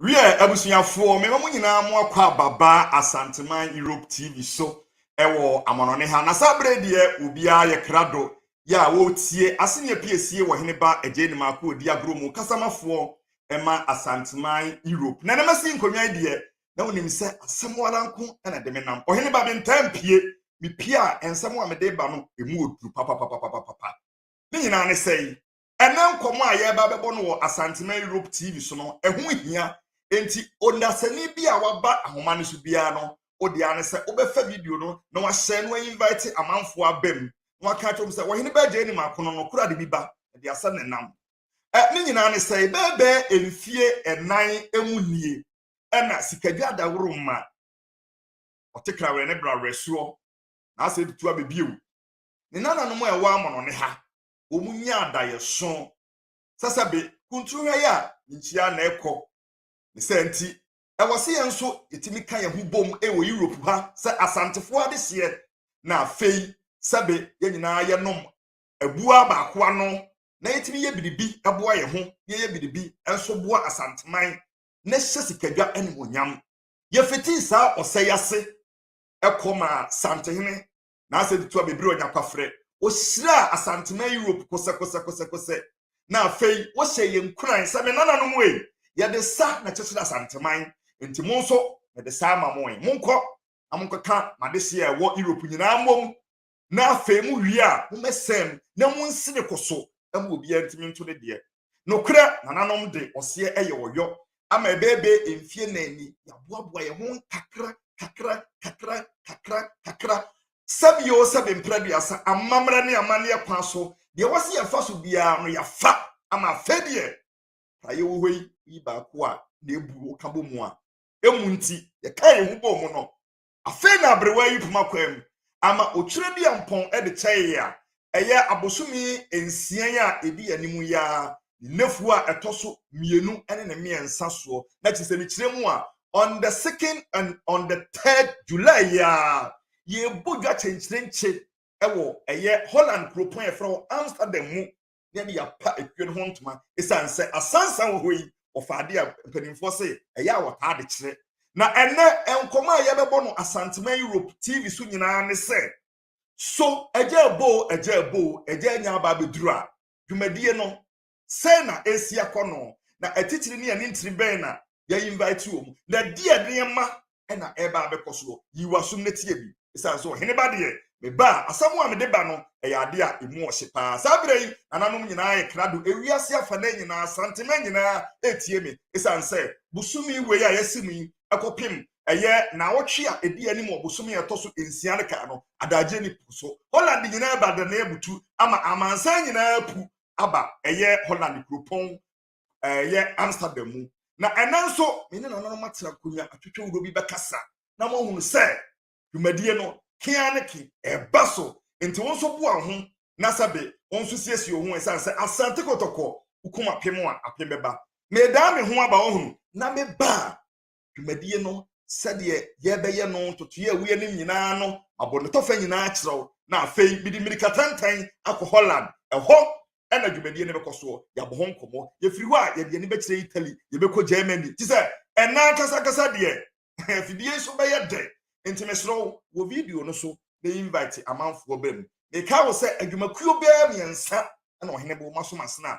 Wiɛ, abusuafoɔ, mema mo nyinaa mo akɔ aba baa Asanteman Europe TV so wɔ amɔnɔne ha, na saa berɛ yi deɛ obiara yɛ krado yɛ a wɔretie asene apiesie wɔ Hene Ba Agyei Nimako Odi Agorɔ mu, kasamafoɔ ma Asanteman Europe. Na ɛnɛ masi nkonnwa yi deɛ, na wonim sɛ asɛm ara nko na ɛde me nam. Ɔhene ba mentaa mpie, mepie a nsɛm a mede ba no, ɛmu ɔduru papapapapapa. Ne nyinaa ne sɛi, ɛna nkɔmmɔ a yɛreba bɛbɔ no wɔ Asanteman Europe TV so no, ɛho hia. Enti, onasani bi a waba ahoma no so biara no, wo dea ne sɛ wobɛfa video no na wahyɛ no ainvite amanfoɔ aba mu na waka akyerɛ wɔn sɛ Ɔhene Bɛgye Anim Akono no koro ade bi ba, ɛde asɛ ne nam. Ɛ, ne nyinaa ne sɛ bɛɛbɛɛ mfie nnan mu nie ɛna Sikadwa Daworo mma ɔte krawerɛ ne brawerɛsoɔ na asɛ de tu abɛbie wo ne nananom a ɛwɔ amɔnɔne ha. wɔnya adaeɛso sɛ sɛ be kunturu ha yi a nkyia na ɛkɔ ne sɛ nti ɛwɔ sɛ yɛn nso yɛtumi ka yɛn ho bom wɔ europe ha sɛ asantefoɔ adehyeɛ na afei sɛ be yɛn nyinaa yɛnom abua baako ano na yɛtumi yɛ biribi boa yɛn ho na yɛyɛ biribi nso boa asanteman na hyɛ sikadwa animonyam yɛfitii saa ɔsɛe ase ɛkɔ maa santehene N'asɛm tutu abɛbiri ɔnyakwafrɛ. Ohyiraa Asanteman Europe kosɛkosɛkosɛkosɛ, na afei ohyɛɛ yɛn nkuran sɛ, Me nananom ei, yɛde sa na ɛkyekyere Asanteman, enti mo nso mede sa ama mo ei. Monkɔ na monkɔka m'adehye a ɛwɔ Europe nyinaa mmom, na afei mowie a, mommɛsɛm na munsene kɔ so ma obiara ntumi nto ne deɛ. Nokorɛ, nananom de ɔseɛ yɛ ɔyɔ, ama ɛbɛɛbɛɛ mfie nan ni, yɛaboaboa yɛn ho nkakra kakra kakra kakra kakra, sɛbi o sɛbi mprɛduasa, amammerɛ ne amanneɛ kwan so, deɛ ɛwɔ sɛ yɛfa so biara no yɛafa, ama afei deɛ pra yɛwɔ hɔ yi, yi baako a na ɛbu wo ka bɔ mu a, ɛmu nti, yɛkaa yɛn ho bɔɔ mu no, Afei na aberewa yi poma kwaa mu ama okyerɛ bi a mpɔn de kyɛe a ɛyɛ abosome nsia a edi anim yi ara ne nnafua a ɛtɔ so mmienu ne ne mmiɛnsa soɔ, na kyerɛ sɛ ne kyerɛ mu a on the second and on the third July yi ara yɛrebɔ dwa kyenkyerenkye wɔ ɛyɛ Holland kuropɔn a yɛfrɛ hɔ Amsterdam mu na ɛde apa ekuo no ho ntoma esiane sɛ asansan wɔ hɔ yi wɔfa ade a mpanimfoɔ se ɛyɛ a wɔtaa de kyerɛ na ɛnɛ nkɔmɔ a yɛbɛbɔ no asantema europe tv so nyinaa ne sɛ so ɛgya ɛbɔ o ɛgya ɛbɔ o ɛgya anya aba abɛduru a dwumadie no sɛ na ɛsi akɔ no na atitiri ne anintiri bɛn na yɛ invite wɔn na di nneɛma ɛna ɛreba abɛkɔ soɔ yi w'asom na tie bi ɛsiane sɛ ɔhene ba deɛ meba a asɛm a mede ba no ɛyɛ adeɛ a ɛmu ɔhye paa saa berɛ yi nananom nyinaa yɛ krado ewiase afanan nyinaa santema nyinaa ɛretie me ɛsiane sɛ bosome wei a yɛasi mu yi ɛkɔpem ɛyɛ naawɔtwe a ɛdi anim wɔ bosome a ɛtɔ so nsia no kaa no adagye ne po so holland nyinaa ba dɛnɛ butu ama amansan nyinaa pu aba ɛyɛ holland kuropɔn ɛyɛ amsterdam mu na ɛnɛ nso me ne nananom atena nkonnwa atwitwe wuro bi bɛkasa na moahunu sɛ dwumadie no kea ne ke ɛba so nti wo nso boa ho na sɛbe wo nso siesie ho ɛsiane sɛ asante kɔtɔkɔ wokum apem a apem bɛba medaa me ho aba ɔhunu na meba a dwumadie no sɛdeɛ yɛbɛyɛ no ntotoeɛ a woyɛ no nyinaa no mabɔ ne tɔfa nyinaa kyerɛw na afei mede mmirika tantan akɔ holland ɛhɔ ɛna dwumadie no bɛkɔ soɔ yɛabɔ ho nkɔmmɔ yɛfiri hɔ a yɛde ani bɛkyerɛ italy yɛbɛkɔ germany te sɛ ɛna ankasakasa deɛ afidie nso bɛyɛ dɛ nti mesrɛ wo wɔ video no so na invite amanfoɔ bɛ mu meka wo sɛ adwumakuo bɛɛ mmiɛnsa na ɔhene bo masomasena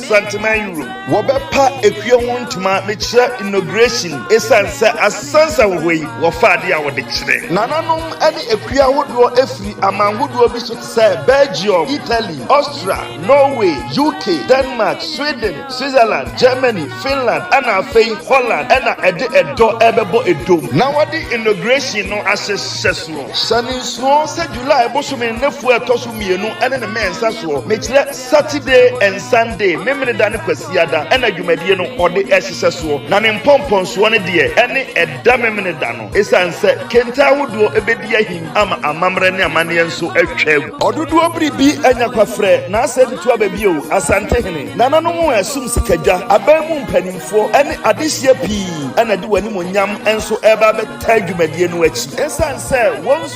Santeman Europe. Wɔbɛpa akuo ho ntoma mekyerɛ inauguration ɛsiane sɛ asansa wɔ hɔ yi wɔfa adeɛ a wɔde kyerɛ. Nananom ne akuo ahodoɔ firi aman hodoɔ bi so te sɛ Belgium, Italy, Austria, Norway, UK, Denmark, Sweden, Switzerland, Germany, Finland ɛna afei Holland ɛna ɛde ɛdɔ ɛrebɛbɔ ɛdom na wɔde inauguration no ahyehyɛ soɔ. Hyɛ no nsuo sɛ July bosome nnafua a ɛtɔ so mmienu ne ne mɛnsa soɔ mekyerɛ. Saturday and Sunday, Memeneda ne Kwasiada na dwumadie no ɔde hyehyɛ soɔ, na ne mpɔmpɔnsoɔ no deɛ ɛne ɛda Memeneda no, ɛsiane sɛ kente ahodoɔ bɛdi ahim ama amammerɛ ne amanneɛ nso atwa agu. Ɔdodoɔ biribi anya kwafrɛ na asɛ de tu aba bio, Asantehene, nananom a ɛsom sikadwa, aban mu mpanimfoɔ ne adehyeɛ pii na de wɔn animuonyam nso reba abɛtaa dwumadie no akyi, ɛsiane sɛ wɔn.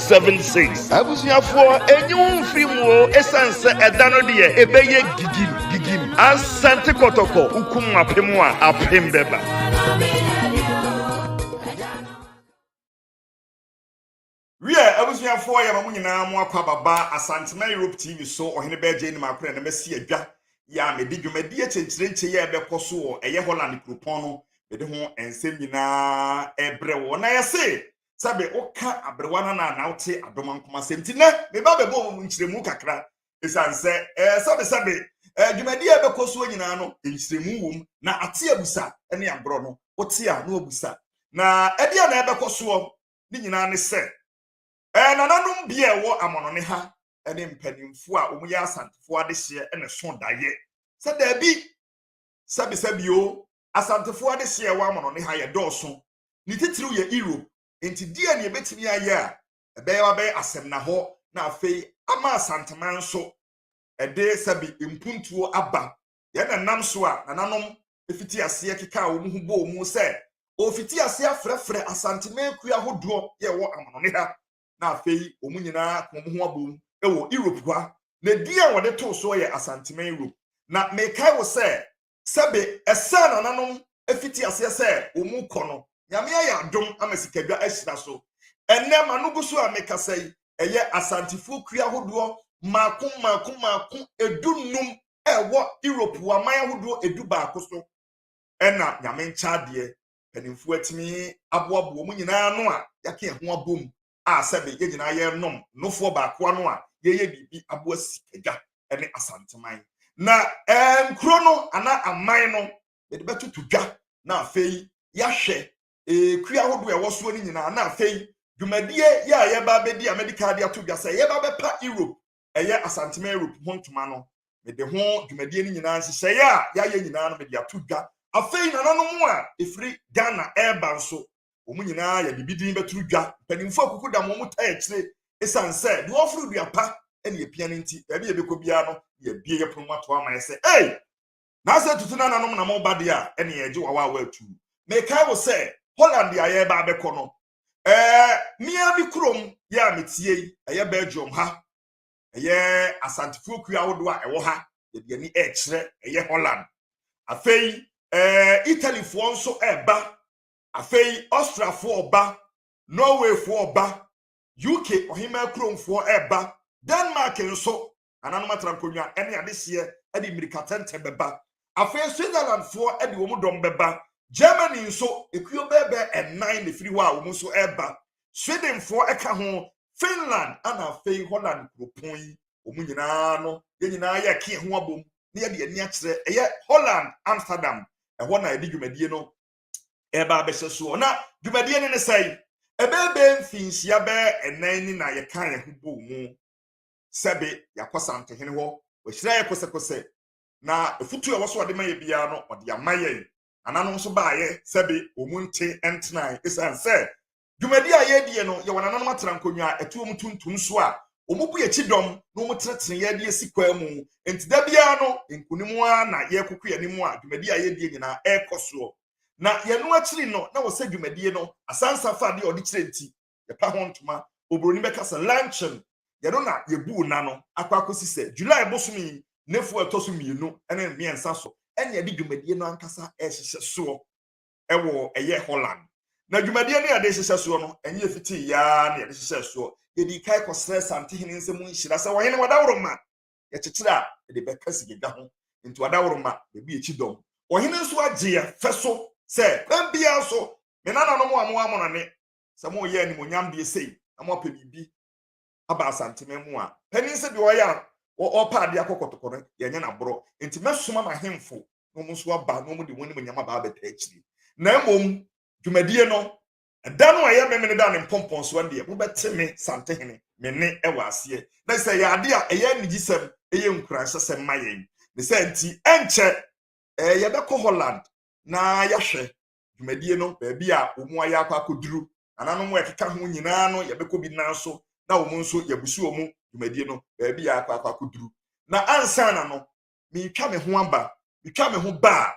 seven six. Abusuafoɔ enyi wo mfiri mu o esan sɛ ɛda no deɛ ebɛyɛ gigim gigim asante kɔtɔkɔ wokum apem a apem bɛba. Wiɛ abusuafoɔ yɛma mo nyinaa mo akɔ ababa Asantema Europe TV so Ɔhene Bɛɛ Jane Makorɛ na masi adwa yɛ a mede dwumadie kyenkyerenkye yɛ ɛbɛkɔ so wɔ ɛyɛ Holland kuropɔn no mede ho nsɛm nyinaa ɛbrɛ wɔ na yɛse sɛbe woka aberewa no anaa na wote adoma nkoma asɛm nti nɛ meba bɛbɔ mu nkyerɛmu kakra ɛsiane sɛ ɛɛ sɛbesɛbe ɛɛ dwumadi a ɛbɛkɔ soɔ nyinaa no nkyerɛmu wom na ate abusa ne agorɔ no wote a na wabusa na ɛdeɛ na ɛbɛkɔ soɔ ne nyinaa ne sɛ ɛɛ nananom bi a ɛwɔ amɔnɔne ha ne mpanimfoɔ a wɔyɛ asantefoɔ adehyeɛ ne so daeɛ sɛ daabi sɛbesɛbio asantefoɔ adehyeɛ ɛwɔ amɔnɔne ha yɛ dɔɔso ne titiriw yɛ Europe. Enti deɛn na yɛbɛtumi ayɛ a ɛbɛyɛ wabɛyɛ asɛmnahɔ na afei ama Asanteman nso ɛde sɛbe mpuntuo aba? Yɛn na nam so a nananom fiti aseɛ kekaa wɔn ho bɔɔ mu sɛ wɔfiti aseɛ afrɛfrɛ Asanteman kuo ahodoɔ yɛ wɔ amanɔne ha na afei wɔn nyinaa ka wɔn ho abom wɔ Europe hɔ a, na din a wɔde too soɔ yɛ Asanteman Europe. Na mekae wo sɛ sɛ be ɛsɛ nananom fiti aseɛ sɛ wɔn kɔ no, Nyame ayɛ adom ama sikadwa ahyira so. Ɛnnɛ m'ano gu so a mekasa yi, ɛyɛ Asantefoɔ kuri ahodoɔ mmaako mmaako mmaako edu nnum a ɛwɔ Europe wɔ aman ahodoɔ edu baako so ɛna Nyame nkyɛ adeɛ mpanimfoɔ atumi aboaboa wɔn nyinaa ano a yɛaka ɛho abom a sɛbe yɛn nyinaa yɛrenom nofoɔ baako ano a yɛyɛ biribi aboa sikadwa ne asanteman na nkuro no anaa aman no yɛde bɛtoto dwa na afei yɛahwɛ ekua ahodoɔ a ɛwɔ soɔ no nyinaa na afei dwumadie yɛ a yɛba abɛdi a mɛde kaade ato dwa sɛ yɛba bɛpa europe ɛyɛ asantema europe ho ntoma no mede ho dwumadie no nyinaa nhyehyɛeɛ a yɛayɛ nyinaa no mede ato dwa afei nananom a ɛfiri ghana ɛreba nso wɔn nyinaa yɛde bi din bɛtoro dwa mpanimfoɔ akuku da wɔn taa akyire ɛsiane sɛ deɛ ɔforo dua pa ɛne apia no nti baabi yɛbɛkɔ biara no yɛbie yɛ pono mu ato ama yɛ sɛ ei na sɛ tutu nananom na mo ba deɛ a ɛne yɛgye wawa a wɔatu mekae wo sɛ holland a yɛreba abɛkɔ no ɛɛ mmea mi kurom yɛ a metie yi ɛyɛ belgium ha ɛyɛ asantefoɔ kuo ahodoɔ a ɛwɔ ha yɛde ani ɛrekyerɛ ɛyɛ holland afei ɛɛ italyfoɔ nso ɛreba afei austriafoɔ ɔba norwayfoɔ ɔba uk ɔhemaa kuromfoɔ ɛreba denmark nso Nananom atena nkonnwa ne adehyeɛ de mmirikatɛntɛ bɛba. Afei Switzerlandfoɔ de wɔn dɔm bɛba. Germany nso, ekuo bɛɛbɛɛ nnan na ɛfiri hɔ a wɔn nso reba. Swedenfoɔ ka ho, Finland ana afei Holland kuropɔn yi. Wɔn nyinaa no, yɛn nyinaa yɛreke yɛn ho abom na yɛde ani akyerɛ. Ɛyɛ Holland, Amsterdam. Ɛhɔ na yɛde dwumadie no ɛreba abɛhyɛ soɔ. Na dwumadie no ne sɛe? Ɛbɛɛbɛɛ mfinhyia bɛɛ ɛnan ni na yɛka yɛn ho bɔ mu. sɛbe yɛakɔ Santohene hɔ, wahyira yɛ kosɛkosɛ, na afutu a ɛwɔ so ɔde ma yɛ biara no, ɔde ama yɛn. Nananom nso baeɛ sɛbe wɔn mu nte ntenae ɛsiane sɛ dwumadi a yɛredie no yɛwɔ nananom atena nkonnwa a ɛtoɔ mu tuntum so a wɔbu yɛn kyidɔm na wɔtenetene yɛn de asi kwan mu. Enti da biara no, nkonim ara na yɛrekɔkɔ yɛn anim a dwumadi a yɛredie nyinaa ɛrekɔ soɔ. Na yɛn no akyiri no, na wɔsɛ dwumadie no asansa fa deɛ ɔde kyerɛ nti, yɛpa ho ntoma oburoni bɛka sɛ luncheon yɛno na yɛbu nna no akɔ akɔsi sɛ july bosom yi nefu ɛtɔ so mmienu ne mmiɛnsa so ɛne ɛde dwumadie no ankasa ɛhyehyɛ soɔ ɛwɔ ɛyɛ holland na dwumadie no yɛde hyehyɛ soɔ no ɛnyɛ fitii yaa na yɛde hyehyɛ soɔ yɛde kae kɔsrɛ santehene nsɛm nhyira sɛ wɔhene wadaworo ma yɛkyekyere a yɛde bɛka sigedwa ho nti wadaworo ma baabi akyi dɔm ɔhene nso agye yɛ fɛ so sɛ kwan biara so me nananom a mo amonɔne sɛ moyɛ animonyam deɛ sei na moapɛ biribi aba asantema mu a panin sɛ deɛ ɔyɛ a ɔpɛ adeɛ akɔ kɔtɔkɔ no yɛnyɛ no aborɔ nti mɛsoma m'ahemfo na wɔn nso aba na wɔn de wɔn animonyam aba abɛta akyiri na mmom dwumadie no ɛda no a ɛyɛ memene da ne mpɔmpɔn so ɛndeɛ mobɛte me santehene me ne ɛwɔ aseɛ na sɛ ɛyɛ adeɛ a ɛyɛ anigyesɛm ɛyɛ nkuranhyɛsɛm ma yɛn ne sɛ nti ɛnkyɛ ɛɛ yɛbɛkɔ Holland na yɛahwɛ dwumadie no baabi a wɔn ayɛ akɔ akɔduru nananom a ɛkeka ho nyinaa no yɛbɛkɔ bi nan so na wɔn nso yɛbusu wɔn dwumadie no baabi a akɔ akɔ akɔduru na ansa na no metwa me ho aba metwa me ho baa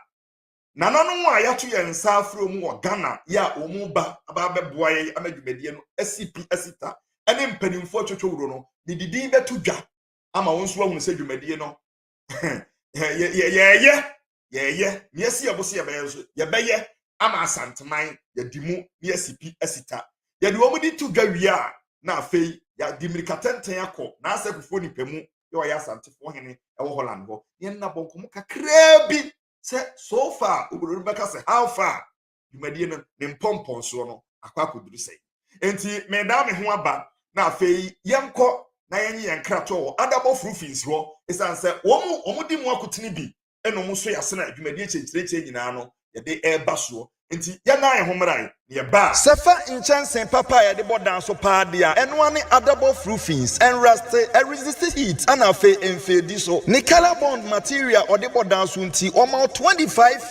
nananom a yɛato yɛn nsa afiri wɔn wɔ ghana yɛ a wɔn ba aba abɛboa yɛn ama dwumadie no asi pi asi ta ɛne mpanimfoɔ twotwo wuro no medidin bɛto dwa ama wɔn nso ahunu sɛ dwumadie no yɛyɛyɛ yɛyɛ na yɛsi yɛbo so yɛbɛyɛ nso yɛbɛyɛ ama asanteman yɛdi mu na yɛsi pi asita yɛde wɔn de to dwa wie a na afei yɛde mmirika tenten akɔ na asɛkufoɔ nipa mu yɛ ɔyɛ asantefoɔ hene ɛwɔ holland hɔ yɛn nabɔ nkɔmɔ kakraa bi sɛ so far obodo no bɛka sɛ how far dwumadie no ne mpɔmpɔnsoɔ no akɔ akɔduru sɛ nti medaa me ho aba na afei yɛnkɔ na yɛnye yɛn kratoɔ wɔ adabɔ frufins hɔ ɛsiane sɛ wɔn wɔn di mu akotene bi ɛna wɔn so yɛase na adwumadie kyerɛkyerɛkyerɛ nyinaa no yɛde ɛreba soɔ nti yɛnan yɛn ho mmarae na yɛbaa sɛ fa nkyɛnse papa a yɛde bɔ dan so paa deɛ a ɛnoa ne adabɔ frufins ɛnraste ɛresiste heat ɛna afei ɛmfeedi so ne color bond material ɔde bɔ dan so nti wɔma wo 25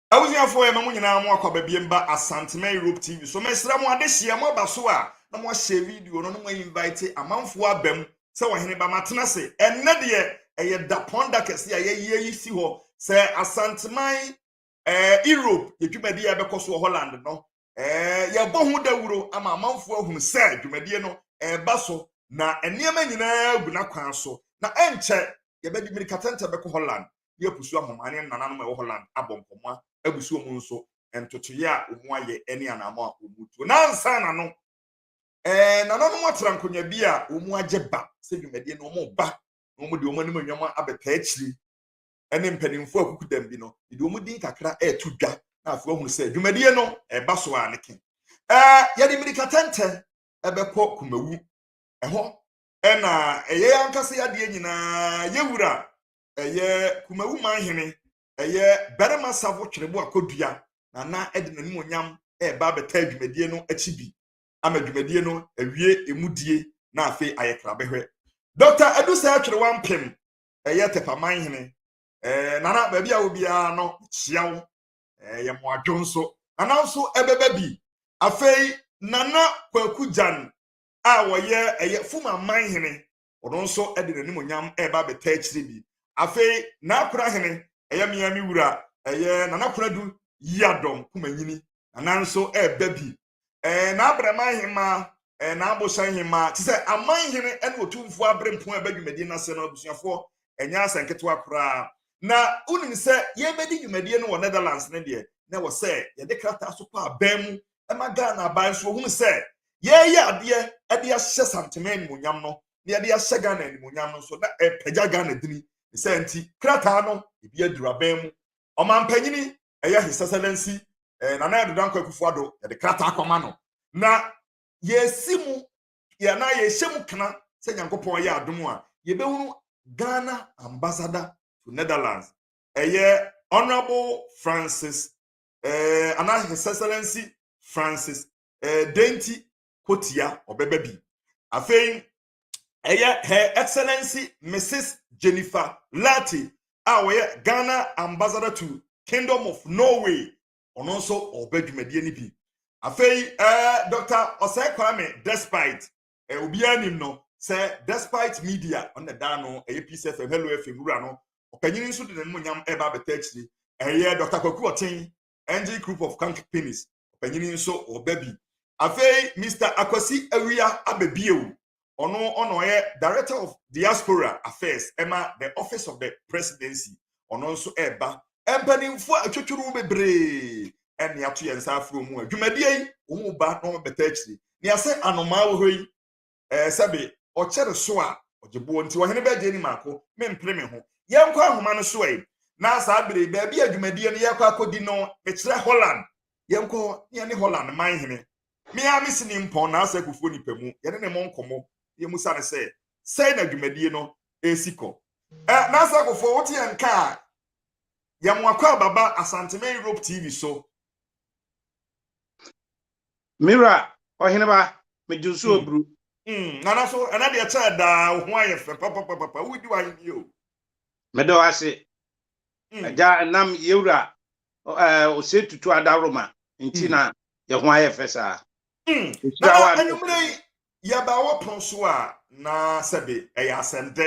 Abusuafoɔ yɛma mo nyinaa mo akwaba biem ba Asantema Europe TV so mesrɛ mo adehyeɛ mo aba so a na mo ahyɛ video no na mo a invite amanfoɔ aba mu sɛ ɔhene ba matena se ɛnɛ deɛ ɛyɛ dapɔn da kɛse a yɛyi ayi si hɔ sɛ Asanteman ɛɛ Europe yɛ dwumadi a ɛbɛkɔ so wɔ Holland no Ɛɛ yɛbɔ ho dawuro ama amanfoɔ ahunu sɛ dwumadie no ɛreba so na nneɛma nyinaa gu n'akwan so na ɛnkyɛ yɛbɛde mmirikatɛntɛ bɛkɔ Holland ne apusu ahoma ne nananom a ɛwɔ Holland abɔ nkɔmmɔ abu so wɔn nso ntotoeɛ a wɔn ayɛ ne anamɔ a wɔn tuo nansa na no ɛɛ nananom atera nkonnwa bi a wɔn agye ba sɛ dwumadie no wɔn ba na wɔn de wɔn anim nnwom abɛtaa akyiri ne mpanimfoɔ akukudam bi no de wɔn din kakra reto dwa na afei wɔhunu sɛ dwumadie no ɛba so a ne ke ɛɛ yɛde mmirika tɛntɛ ɛbɛkɔ kumawu ɛhɔ ɛna ɛyɛ ankasa yadeɛ nyinaa yɛwura ɛyɛ kumawu manhene ɛyɛ barima safo twerebo akɔdua na na ɛde n'anim onyam ɛreba abɛtaa dwumadie no akyi bi ama dwumadie no awie emudie na afei ayɛ krabɛhwɛ dɔkta adusa atwerewa mpem ɛyɛ tɛpaman hene ɛɛ nana baabi a obiara no hyia wo ɛɛ yɛ mo adwo nso nana nso ɛbɛba bi afei nana kwaku gyan a wɔyɛ ɛyɛ fuma man hene ɔno nso ɛde n'anim onyam ɛɛba abɛtɛ akyire bi afei n'akora hene ɛyɛ mmea mi wura ɛyɛ nana kora du yi adɔm kuma nyini nana nso ɛɛba bi ɛɛ n'abrɛman hemmaa, ɛɛ n'abosan hemmaa, te sɛ aman hene ne otumfoɔ aberempɔn a ɛba dwumadie no ase no abusuafoɔ, ɛnyɛ asɛm ketewa koraa. Na wonim sɛ yɛbɛdi dwumadie no wɔ Netherlands no deɛ, na ɛwɔ sɛ yɛde krataa so kɔ aban mu ma Ghana aban nso wɔhunu sɛ yɛreyɛ adeɛ de ahyɛ Santeman animuonyam no, na yɛde ahyɛ Ghana animuonyam no nso, na ɛpagya Ghana dini. Ne saa nti, krataa no, ebi aduru aban mu. Ɔmampanyini ɛyɛ His Excellency eh, Nana Ado Dankwa Akufo-Addo yɛde krataa akɔma no na yɛsi mu yɛ na yɛhyɛ mu kana sɛ Nyankopɔn yɛ adom a yɛbɛhunu Ghana ambassador to Netherlands ɛyɛ Honourable Francis eh, ana His Excellency Francis eh, Denti Kotia ɔbɛba bi afei ɛyɛ her excellency mrs jennifer larty a ɔyɛ ghana ambassador to kingdom of norway ɔno nso ɔba dwumadie no bi afei ɛɛ dr ɔsɛe kwame despite ɛ eh, obiara nim no sɛ despite media ɔna daa no ɛyɛ peace fm hello fm wura no ɔpanyin nso de ne mmonyam ɛba abɛtɛ akyiri ɛyɛ dr kwaku ɔten Angel Group of Companies ɔpanyin nso ɔba bi afei Mr Akwasi Awia abɛbiewu ɔno ɔna ɔyɛ Director of Diaspora Affairs ɛma the Office of the Presidency ɔno nso ɛreba mpanimfoɔ atwitwiriw bebree ɛne ato yɛn nsa aforo mu a dwumadie yi wɔn ba na wɔn bɛta akyiri nea sɛ anomaa wɔ hɔ yi ɛɛ sɛbe ɔkyɛre so a ɔgye boɔ nti ɔhene bɛgye ni maako mempere me ho yɛnkɔ ahoma no so ɛ na saa bere baabi a dwumadie no yɛkɔ akɔdi no mekyerɛ holland yɛnkɔ ne ɛne holland man hene mea me sini mpɔn na asɛ kufuo nipa mu yɛne ne mo nkɔmmɔ yɛ mu sane sɛ sɛe na dwumadie no ɛsi kɔ ɛ na asɛ kufuo wote yɛn ka a yɛn mo akɔ ababa asantema europe tv so Me wura, ɔheneba, megye wo so aburu. Mm, nana so ɛna deɛ kyɛɛ daa wo ho ayɛ fɛ papapapapa wodi w'ahenni o. Meda wo ase mm. agya ɛnam yɛwura ɔsɛ tutu adaworoma nti mm. na yɛ ho ayɛ fɛ saa. Mm. Nana anwummerɛ yi yɛba wɔ pɔn so a na sɛbe ɛyɛ asɛm dɛ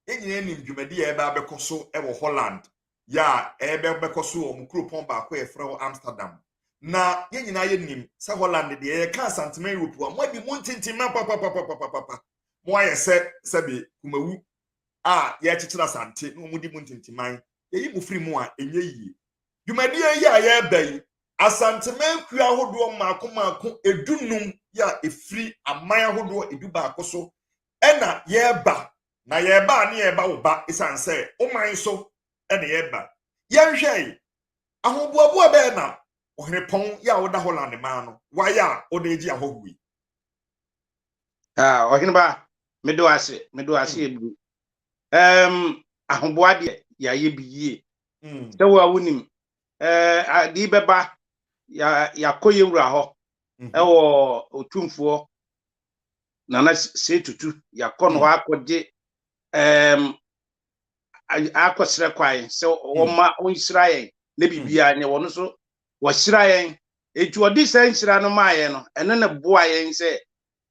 yɛn nyinaa nim dwumadi a ɛbɛ abɛkɔ so wɔ Holland yɛ a ɛbɛkɔ so wɔ wɔn kuropɔn baako a yɛfrɛ hɔ amsterdam na yɛn nyinaa yɛnim sɛ holland deɛ yɛka asantema europe a moadi mu ntintima papapapapapa moayɛ sɛ sɛbe kumawu a yɛkyekyere asante na wɔdi mu ntintiman yɛyi mu firi mu a ɛnyɛ yie dwumadie yi a yɛreba yi asantema akuo ahodoɔ mmaako mmaako edunum yɛ a ɛfiri aman ahodoɔ edu baako so ɛna yɛreba na yɛreba a ne yɛreba wo ba ɛsiane sɛ wo man so na yɛreba yɛnhwɛe ahoboaboa bɛɛ na ɔhenepɔn yɛ a woda holland maa no wayɛ a wode agye ahɔhoɔ yi ɔheneba mede wo ase mede wo ase ɛburu hmm. ahoboa deɛ yɛayɛ bi yie hmm. sɛ wo a wonim ade bɛba yɛakɔ yɛwura hɔ hmm. ɛwɔ ɔtumfoɔ nana se tutu yakɔ no hɔ akɔgye ɛɛm akɔsrɛ kwan sɛ wɔma ɔnhyira yɛn na biribiara nyɛ wɔn nso wɔahyira yɛn eti ɔde sɛ nhyira no maa yɛn no ɛno na boa yɛn sɛ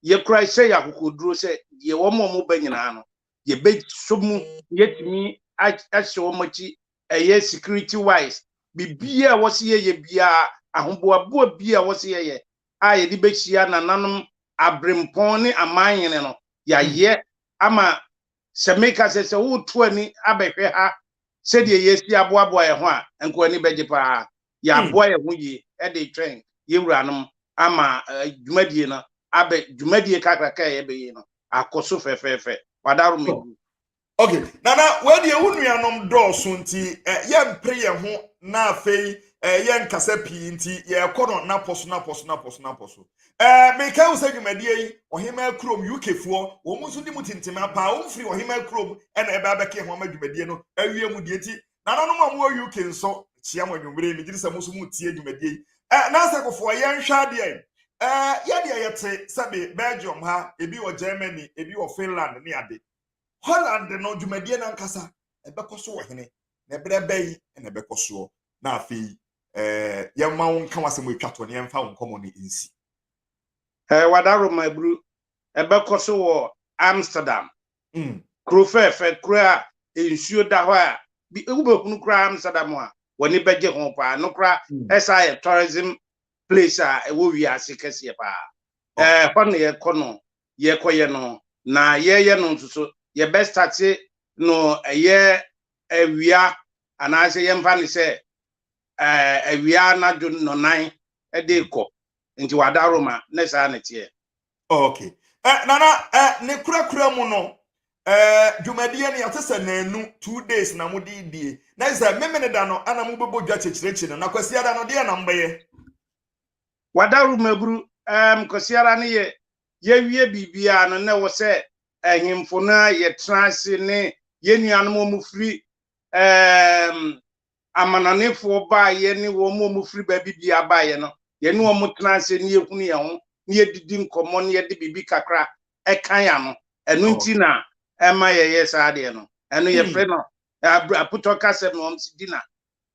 yɛkura hyɛ yɛ akokoduro sɛ deɛ wɔn a wɔn ba nyinaa no yɛbɛsɔ mu yɛtumi ahyɛ wɔn akyi ɛyɛ security wise biribiara a wɔsi yɛyɛ biara ahoboaboa biara a wɔsi yɛyɛ a yɛde bɛhyia nananom aberempɔn ne aman hene no, yɛayɛ ama Sɛ meka sɛ, sɛ woreto ani abɛhwɛ ha sɛdeɛ yɛasi aboaboa yɛn ho a, nka w'ani bɛgye pa ara. Yɛaboa yɛn ho yie de retwɛn yɛn wuranom ama dwumadie no abɛ, dwumadie kakraka a yɛbɛyɛ no akɔ so fɛfɛɛfɛ. Wadaworo Megu. okay nana wei deɛ wo nuanom dɔɔso nti eh, yɛmpere yɛn ho na afei eh, yɛnkasa pii nti yɛrekɔ no napɔ so napɔ so napɔ so napɔ so eh, meka wo sɛ dwumadie yi ɔhemaa kurom ukfoɔ wɔn nso di mu tintim apaa wɔn firi ɔhemaa kurom ɛna ɛbɛ abɛka ho ama dwumadie no awie mu deɛ nti nananom a wɔwɔ uk nso kyia mo anwummere megye di sɛ mo nso mo tie dwumadie yi eh, na sɛ kofoɔ yɛnhwɛ adeɛ eh, yɛdeɛ yɛte sɛbe belgium ha ebi wɔ germany ebi wɔ finland ne ade Holland no dwumadie no ankasa ɛbɛkɔ so wɔ hene na ɛberɛ bɛyi na ɛbɛkɔ soɔ na afei eh, yɛma wo nka wasɛm atwa toɔ na yɛmfa wo nkɔmmɔ no nsi eh, wadaroma aburu ɛbɛkɔ so wɔ Amsterdam mm. kuro fɛɛfɛ kuro a nsuo da hɔ a bi wobɛhunu koraa Amsterdam a wɔne bɛgye ho paa no koraa mm. ɛsa yɛ tourism place a ɛwɔ wiase kɛseɛ paa ɛhɔ na yɛkɔ no yɛkɔyɛ no na yɛyɛ no nso so yɛbɛ starte no ɛyɛ awia anaasɛ yɛmfa no sɛ awia anadwo nɔnan de kɔ nti wada roma ne saa ne teɛ okay eh, nana eh, ne kurakura mu no eh, dwumadie no yɛte sɛ naanu two days na mo de die na sɛ memene da no ana mobɛbɔ dwa kyekyerɛkyerɛ no na kwasiada no deɛ na mobɛyɛ Wadaworo mmaburu ɛɛm kɔsiara ne yɛ yɛwie biribiara no na ɛwɔ sɛ ahemfo no a yɛtena ase ne yɛn nuanom wɔn firi ɛɛm amanɔnefoɔ baeɛ ne wɔn wɔn firi baabi biara baeɛ no yɛne wɔn tena ase ne yɛhunu yɛn ho ne yɛdidi nkɔmmɔ ne yɛde biribi kakra ɛka yɛn ano ɛno oh. nti na ɛma yɛyɛ saa deɛ no ɛno yɛfrɛ no aputɔ kasɛm no wɔn si dina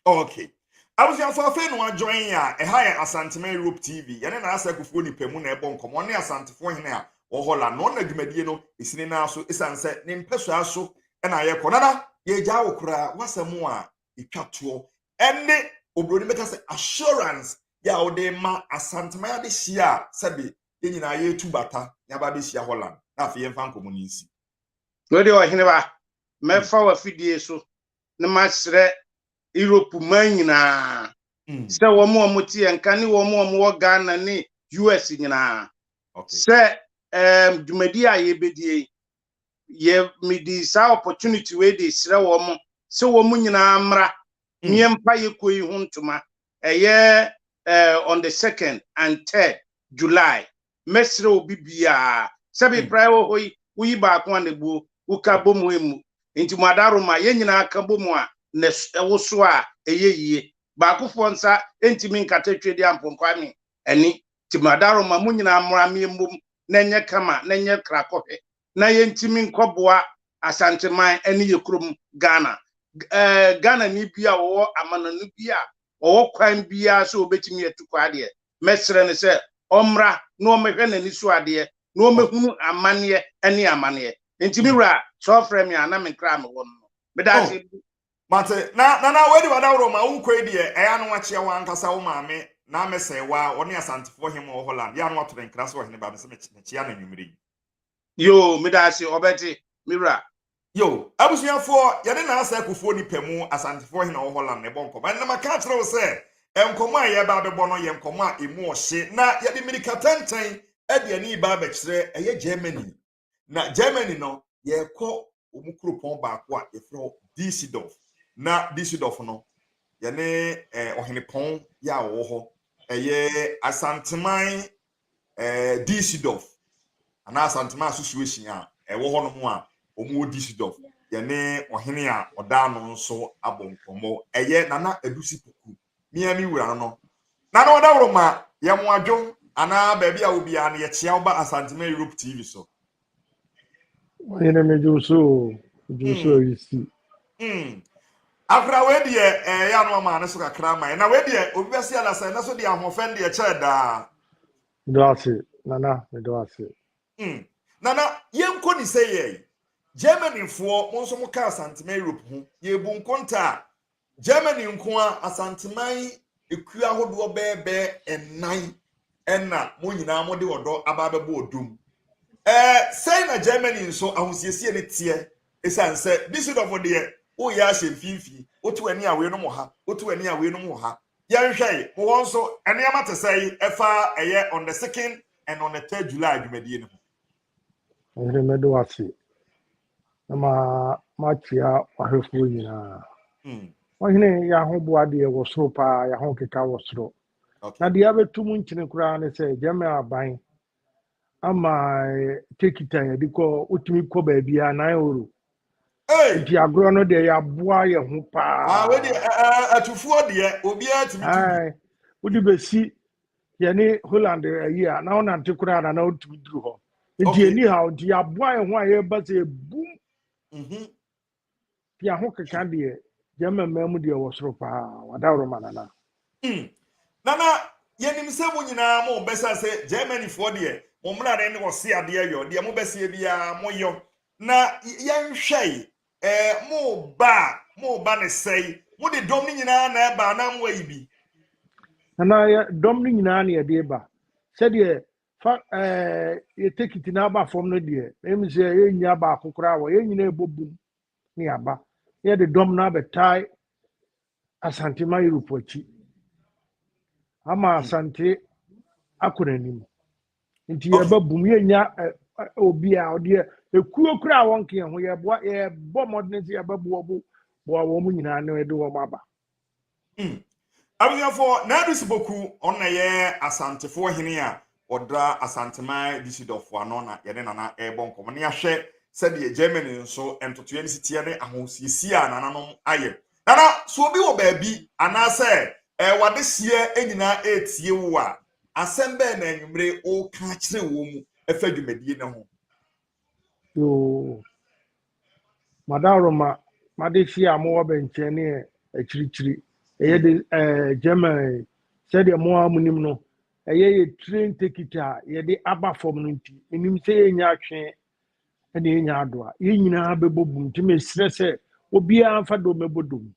Okay. Abusuafo afei no adjoin a ɛha yɛ Asantema Europe TV yɛne na asɛ kufuo nipa mu na ɛbɔ nkɔmɔ ne Asantefo hene a wɔhɔ la na ɔna dwumadie no esini no aso esan sɛ ne mpɛsua so ɛna ayɛ kɔ nana yɛgya wo koraa wasɛm a etwa toɔ ɛne obroni bɛka sɛ assurance yɛ a wɔde ma Asantema yɛde hyia a sɛbi yɛn nyinaa yɛtu bata yɛn aba abɛhyia Holland na afei yɛmfa nkɔmɔ no nsi. Wei deɛ ɔhene ba mɛfa wafidie so na masrɛ Europe man nyinaa sɛ wɔn a wɔte yɛn nka ne wɔn a wɔwɔ Ghana ne US nyinaa sɛ ɛɛm dwumadi a yɛbɛdie yi yɛ mede saa opportunity wei de srɛ wɔn sɛ wɔn nyinaa mmra mm. ne yɛmpa yɛkuo yi ho ntoma ɛyɛ ɛɛ on the second and third July. Mɛsrɛ obi biaa sɛ me praɛ wɔ hɔ yi, wo yi baako a na buo, wo ka bɔ mu ɛmmu. Nti mo ada Roma, yɛn nyinaa ka bɔ mu a na ɛwoso a ɛyɛ yie. Baakofoɔ nsa ɛntimi nkata twɛdi ampɔnkɔ anwe ani. Nti mo ada Roma, mo nyinaa mmra me ɛmmom na ɛnyɛ kama na ɛnyɛ krakɔhwɛ. na yɛntumi nkɔboa Asanteman ne yɛn kurom Ghana. Eh, Ghanani bi a wɔwɔ amanɔne bi a ɔwɔ kwan biara sɛ ɔbɛtumi atu kɔ adeɛ, mɛsrɛ no sɛ ɔmmra na ɔmmɛhwɛ n'ani so adeɛ na ɔmmɛhunu amanneɛ ne amaneɛ. Nti me wura, sɛ ɔfrɛ me a na me nkra a mewɔ no no. Meda Oh, ase. mate. Na, Nana, wei de w'adaworo ma wokɔ yi deɛ, ɛyɛ a na woakyea w'ankasa wo maame na amɛsɛe wo ara, ɔne Asantefoɔ hemma wɔ Holland, yɛ a na woato ne nkra sɛ ɔhene ba, mese mekyea no anwummere yi. Yoo, meda ase, ɔbɛte, me wura. Yoo, abusuafoɔ, yɛne Naasa akufoɔ nipa mu Asantefoɔ hena wɔ Holland na ɛbɔ nkɔmmɔ. Ɛnna maka akyerɛ wo sɛ nkɔmmɔ a yɛreba abɛbɔ no yɛ nkɔmmɔ a emu ɔhye, na yɛde mmirikatɛntɛn de ani reba abɛkyerɛ ɛyɛ Germany. Na Germany no, yɛrekɔ wɔn kuropɔn baako a yɛfrɛ hɔ Düsseldorf. Na Düsseldorf no, yɛne eh, ɔhenepɔn yɛ a wɔwɔ hɔ ɛyɛ Asanteman eh, Düsseldorf anaa Asantema Association a ɛwɔ hɔnom a wɔwɔ Düsseldorf yɛne ɔhene a ɔda ano nso abɔ nkɔmmɔ ɛyɛ Nana Adusi Poku mea me wura no no na na ɔda woro ma yɛn adwo anaa baabi a obiara no yɛkyea woba Asantema Europe TV so ɔyere me dwo so dwo so hmm. ayisi hmm. akora wei deɛ ɛyɛ eh, ano ama ne so kakra ma na wei deɛ obi bɛsi adasa ɛna so deɛ ahoɔfɛn deɛ kyɛ daa medɔ ase nana medɔ ase hmm. nana yɛnkɔ ne sɛ yɛ germanyfoɔ mo nso mo ka asantema europe ho yɛbu nkonta a Germany nko ara, Asanteman akuo ahodoɔ bɛyɛ bɛyɛ nnan na mo nyinaa mode ɔdɔ aba abɛbɔ ɔdɔ mu. Ɛɛ, sɛn na Germany nso ahosiesie no teɛ? Ɛsiane sɛ Düsseldorf deɛ, woyɛ ahyɛ mfimfini, woto ani a weinom wɔ ha, woto ani a weinom wɔ ha. Yɛnhwɛ yi, mo hɔ nso nneɛma te sɛn fa ɛyɛ on the second and on the third July dwumadie no ho? Ɔhene, mɛda wo ase na ma makyia w'ahwɛfoɔ nyinaa. Hmm. Ɔhene, yɛ ahoboa deɛ wɔ soro paa, yɛ ahokeka wɔ soro. Na deɛ abɛto mu nkyene koraa ne sɛ gyɛmɛ aban ama eh, tekita yɛde kɔ wotumi kɔ baabiara nan oro nti agorɔ no deɛ yɛaboa yɛ ho paa ah, atufoɔ deɛ obiara tumi tu wode bɛsi yɛne holland ayi a na wonante koraa na na wontumi duru hɔ nti ɛni ha nti yɛaboa yɛ ho a yɛba sɛ ɛbum mhm. nti aho keka deɛ gyama mmaa mu deɛ wɔ soro paa wadaworo ma nana hmm. nana yɛnim sɛ mo nyinaa mo bɛsa sɛ germanyfoɔ deɛ mo mmara ne ne wɔse adeɛ yɔ deɛ mobɛseɛ biara moyɔ na yɛnhwɛe Ɛɛ, mo ba a, mo ba ne sɛe. Mode dɔm no nyinaa na ɛba anaa moayi bi? Anaa yɛ dɔm no nyinaa na yɛde ba. Sɛdeɛ fa ɛɛ yɛ tekiti na aba fam no deɛ, ɛmu sɛ yɛnnya baako koraa wɔ yɛn nyinaa ɛbɔ bum na yɛaba. Na yɛde dɔm no abɛtae Asante ma Europe akyi ama Asante akɔ n'anim nti yɛba bum yɛnya obi a ɔdeɛ ekuo kura a wɔn kɛn ho yɛboa yɛbɔ mmɔden sɛ yɛba boa bo boa wɔn nyinaa na yɛde wɔn aba. Hmm. abusuafoɔ na adisi boku ɔna yɛ asantefoɔ hene a Wɔdra Asanteman Düsseldorf ano na yɛne Nana rebɔ nkɔmmɔ na yɛahwɛ sɛdeɛ Germany nso ntotoeɛ ne siteɛ ne ahosiesie a nananom ayɛ. Nana, so obi wɔ baabi anaasɛ eh, wadehyeɛ nyinaa retie wo a, asɛm bɛn na anwummere woka akyerɛ wɔn mu ɛfa dwumadie no ho? Yoo, m'adawuroma, m'adehye a mowɔ bɛnkyɛn ne akyirikyiri. Ɛyɛ de ɛɛ Germany sɛdeɛ mo ara monim no, ɛyɛ yɛ train ticket a yɛde aba fam no nti, menim sɛ yɛnya atwe ɛna yɛnya adoa. Yɛn nyinaa bɛbɔ bum nti mesrɛ sɛ obiara mfa dom bɛbɔ dom.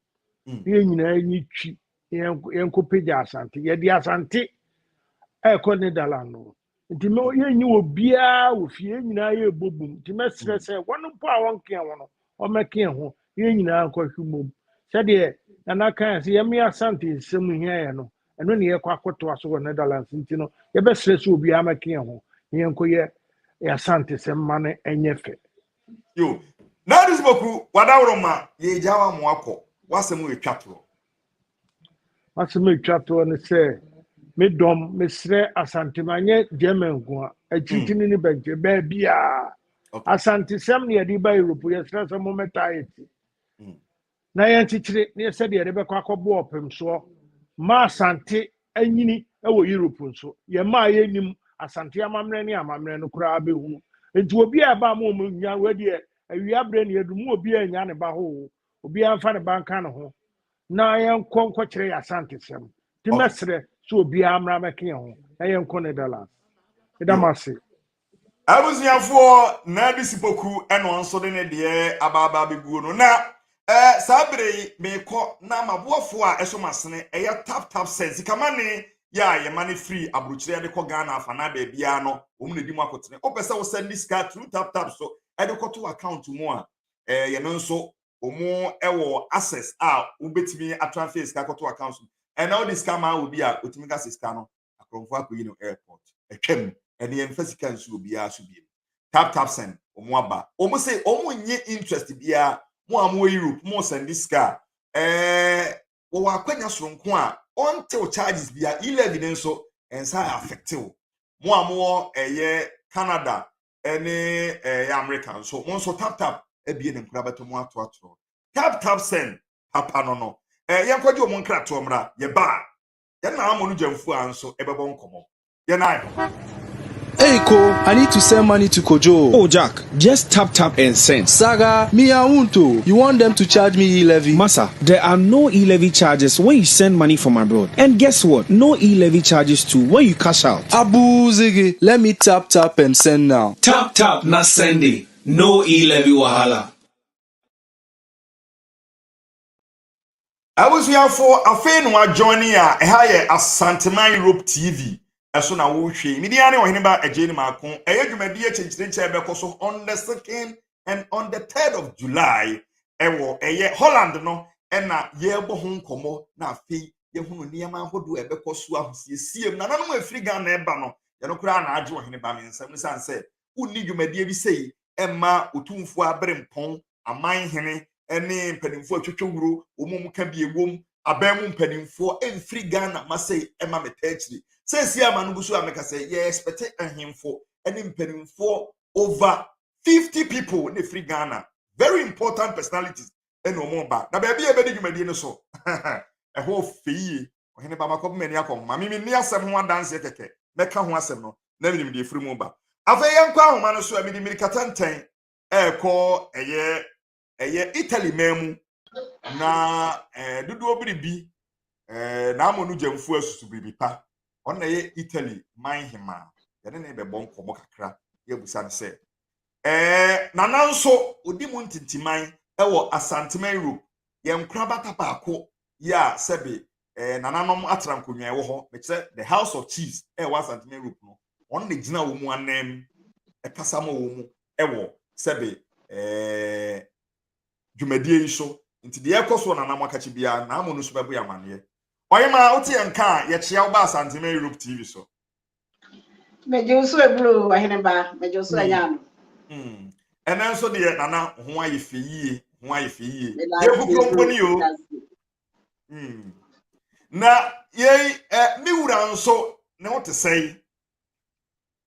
Mm. Ne yɛn nyinaa nyi twi yɛnkɔpagya asante. Yɛde asante ɛrekɔ Netherland no. nti mɛ yɛnyi wɔ biara wɔ fie yɛn nyinaa yɛ ɛbɔ bom nti mɛsrɛ mm. sɛ wɔn mpo a wɔnkea ho no wɔmɛke ho yɛn nyinaa nkɔhwe mmom sɛdeɛ nana kan sɛ yɛme asante nsɛm hia yɛ no ɛno ne yɛkɔ akɔtoa so wɔ netherlands nti no yɛbɛsrɛ sɛ obiara mɛke ho na yɛnkɔyɛ asante sɛ mma no ɛnyɛ fɛ yo na adesboku wadaworo ma yɛgya wa mo akɔ wasɛm ɛtwa torɔ M'asɛm a etwa toɔ ne sɛ, me dɔm, mesrɛ Asante ma nyɛ German nko a, akyirikyini ne bɛnkyɛ, baabiara. Okay. Asantesɛm ne yɛde ba Europe, yɛsrɛ sɛ mommɛtaa yɛ ti. Mm. Na yɛnkyekyere ne yɛ sɛdeɛ yɛde bɛkɔ akɔboa ɔpemsoɔ ma Asante anyini wɔ Europe nso. Yɛma a yɛnim Asante amammerɛ ne amammerɛ no koraa bɛhunu. Nti obi a ɛba a mo ɔmo nya, wei deɛ awia berɛ ne yɛdu, mo obi a nya ne ba hoo. obiara mfa ne ba nka ne ho na yɛnkɔ nkɔkyerɛ yɛ asantesɛm nti mɛserɛ sɛ obiara mmra mmɛka yɛn ho na yɛnkɔ netherlands ɛda m ase abusuafoɔ na de sipoku ɛno nso de ne deɛ abaaba bɛguo no na eh, saa bere yi meekɔ na maboafoɔ a ɛsɔ masene ɛyɛ tap tap sɛ sikamane yɛ a yɛma no firi aburokyerɛ de kɔ ghana afa na baabiara no wɔn na di mu akotene wopɛ sɛ wosɛn de sika through tap tap so ɛde kɔto account mu a eh, yɛn nso wɔn wɔ access a wobɛtumi atransfer sika kɔto account mu ɛna wode sika maa obi a otumi ka sɛ sika no akorɔmfoɔ akɔyi no airport atwam ɛne yɛn mfa sika nsu obiara so biem tap tap send wɔn aba wɔn sɛ wɔn nye interest biara mo a mo europe mo send sika a ɛɛ wɔwɔ akwanya soronko a ɔntew charges biara e-levy ne nso ɛnsa affectew mo a mo wɔ ɛyɛ canada ɛne ɛyɛ america nso mo nso tap tap abie ne nkora bɛtɔ mo ato atoro tap tap send papa no no ɛɛ yɛn kɔgye wɔn nkratoɔ mmra yɛ ba yɛn na amɔ no gyamfu a nso ɛbɛbɔ nkɔmɔ yɛn na ayɛ. Hey ko, I need to send money to Kojo. Oh Jack, just tap tap and send. Saga, me I won't oh. You want them to charge me e-levy? Masa, there are no e-levy charges when you send money from abroad. And guess what? No e-levy charges too when you cash out. Abuu ziggy let me tap tap and send now. Tap tap na sende no e levy wahala. Abusuafo afei na wa joining a ɛha yɛ Asanteman Europe TV ɛso na wo hwɛ yi me din ara ne Ɔheneba Agyeeni Maako ɛyɛ dwumadie akyinkyini nkyɛn ɛbɛkɔ so on the second and on the third of July ɛwɔ ɛyɛ Holland no ɛna yɛbɔ ho nkɔmɔ na afei yɛhunu nneɛma ahodoɔ a ɛbɛkɔ so ahosiesie mu nananom a ɛfiri ghana ɛba no yɛno koraa na agye ɔhene ba ne nsam sane sɛ wonni dwumadie bi sei ɛmma otumfoɔ abere mpɔn aman hene ne mpanimfoɔ atwitwe wuro wɔn mu ka bi ɛwom aban mu mpanimfoɔ ɛmfiri ghana ma sei ɛma metaa akyiri sɛ si ama no gu so a meka sɛ yɛ ɛspɛte ahemfo ne mpanimfoɔ over 50 people ne ɛfiri ghana very important personalities na wɔn ba na baabi a yɛbɛdi dwumadie no so ɛhɔ fɛ yie ɔhene ba makɔpem ani akɔ ho ma me menni asɛm ho adanseɛ kɛkɛ mɛka ho asɛm no na menim deɛ ɛfiri mu ba afei yɛnkɔ ahoma no so a mede mmirikata ntɛn ɛrekɔ ɛyɛ ɛyɛ italy man mu na ɛɛ eh, dodoɔ biribi ɛɛ eh, na amɔ no gyamfoɔ asusu biribi pa ɔno na ɛyɛ italy man hemaa yɛne ne bɛbɔ nkɔmmɔ kakra yɛabusa no sɛ Ɛɛ, na nanso odi mu ntintiman wɔ Asanteman Europe, yɛn nkorabata baako yi a sɛbe ɛɛ nananom atra nkonnwa ɛwɔ hɔ, mekyerɛ The House of Chiefs a ɛwɔ Asanteman Europe no, wɔn na gyina wɔn mu ananmu ɛkasa ma wɔn mu ɛwɔ sɛbe ɛɛ dwumadie yi so. Nti deɛ ɛkɔ soɔ nananom akakye biara, naamu no nso bɛbo yɛn amaneɛ. Ɔyema, wote yɛn nka a, yɛkyea wo ba Asanteman Europe TV so. Megye wo so aburo, ɔhene ba, megye wo so anya ano. Ɛnɛ nso deɛ nana ho ayɛ fɛ yie ho ayɛ fɛ yie yɛbukuro mponi o hmm. na yei ɛ ne wura nso ne ho te sɛe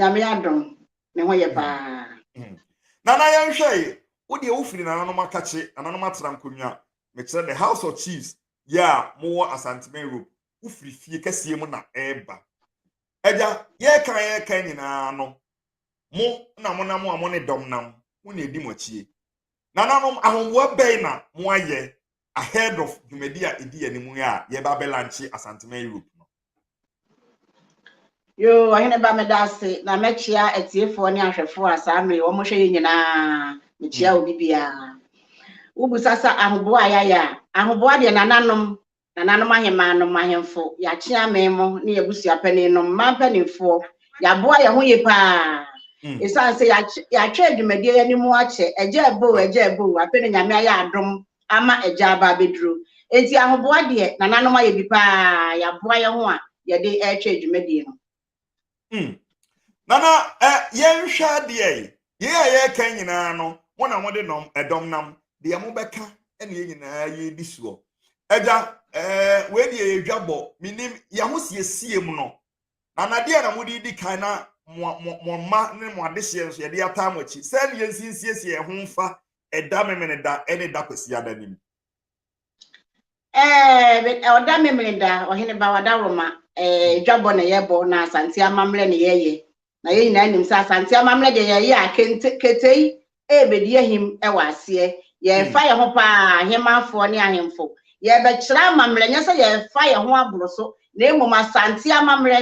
nyame adom ne ho yɛ hmm. paa hmm. nana yɛnhwɛ yi wodeɛ wofiri nananom akakye nananom atena nkonnwa mekyerɛ the house of chiefs yɛ a mowɔ asantema europe wofiri fie kɛseɛ mu na ɛreba agya yɛreka yɛreka nyinaa no mo na mo nam a mo ne dɔm nam mo na edi mo akyie nananom ahoboa bɛn na mo ayɛ ahead of dwumadi a edi anim yi a yɛba abɛlanche asantema europe no. yoo ɔhene ba meda ase na mɛkyea atiefoɔ ne ahwɛfoɔ a saa mmere wɔn hwɛ yɛ nyinaa mekyia hmm. obi biara wobusa sɛ ahoboa a yɛayɛ a ahoboa deɛ nananom Nananom ahemaa nom ahemfo, yɛakyea me mo ne yɛabusua panin nom mmaa mpanimfoɔ, yɛaboa yɛn ho ye paa. Ɛsiane sɛ yɛatwɛ adwumadie yi anim akyɛ, agya aboo, agya aboo, afei na Nyame ayɛ adom ama agya aba abɛduro. Enti ahoboa deɛ, nananom ayɛ bi paa, yɛaboa yɛn ho a yɛde retwɛ adwumadie no. Hmm. Nana, eh, yɛnhwɛ adeɛ yi. Yei a yɛreka nyinaa no, mo na mode nɔm ɛdɔm nam. Deɛ mobɛka ne yɛ nyinaa yɛredi soɔ. Agya, eh, wei deɛ yɛ dwabɔ. Menim yɛ ho siesie mu no. Nana, deɛ na mode di kan na mo mma ne mo adehyeɛ nso yɛde ataa mo akyi. Sɛ ne yɛnsinsiesie yɛn ho mfa ɛda memene da ne da kwasiada nim. Ɛɛ, ɔda memene da, ɔhene ba wada roma, ɛɛ, dwabɔ na yɛbɔ na asante amammerɛ na yɛyɛ. Na yɛn nyinaa nim sɛ asante amammerɛ deɛ yɛyɛ a kente ketei ɛrebɛdi ahim wɔ aseɛ. Yɛrefa yɛn ho paa ahemanfoɔ ne ahemfo. Yɛrebɛkyerɛ amammerɛ, nyɛ sɛ yɛrefa yɛn ho aboro so, na mmom asante amammerɛ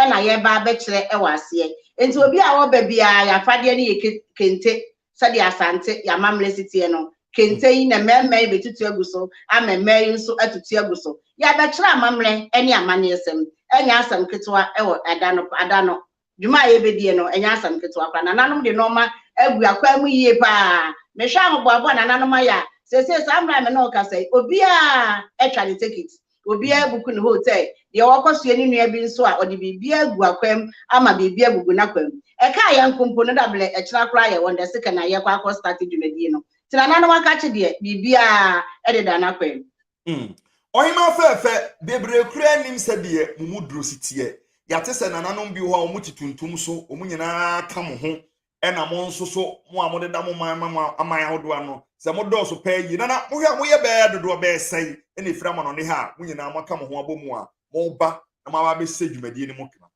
na yɛreba abɛkyerɛ wɔ aseɛ. Nti obi a ɔba biara, yɛn afadeɛ no yɛ kente, sɛdeɛ Asante, yɛn amammerɛ si teɛ no, kente yi na mmarima yi bɛtutu agu so ama mmaa yi nso atutu agu so. Yɛabɛkyerɛ amammerɛ ne amanneɛsɛm. Ɛnyɛ asɛm ketewa wɔ ɛda no, ada no. Dwuma a yɛbɛdie no, ɛnyɛ asɛm ketewa koraa. Nananom de nnoɔma agu akwan mu yie pa ara. Mehwɛ ahoboaboa a nananom ayɛ a, seesei saa mmerɛ a me ne wo kasa yi, obiara atwa ne tekiti. obiara abuku ne ho sɛ deɛ ɔkɔ soɛ ne nua bi nso a ɔde biribi agu akwam ama biribi agugu n'akwam. Ɛkaa yɛn nko mpo no, da blɛ ɛkyena koraa yɛwɔ nda sika na yɛkɔ akɔ starte dwumadie no. Tena nana wakakye deɛ biribiara deda n'akwam. Hmm. Ɔhemaa fɛɛfɛ, bebree koraa nnim sɛdeɛ mo mu duro si teɛ. Yɛate sɛ nananom bi wɔ hɔ a wɔte tuntum so, wɔn nyinaa ka mo ho ɛna mo nso so mo a modeda mo man ma mo aman ahodoɔ ano sɛ modɔɔso paa yi na na mohwɛ a moyɛ bɛɛ dodoɔ bɛɛ sɛe ɛna ɛfiri amanɔne ha a mo nyinaa moaka mo ho abɔ mu a moba na moaba abɛhyɛ dwumadie no mu kena.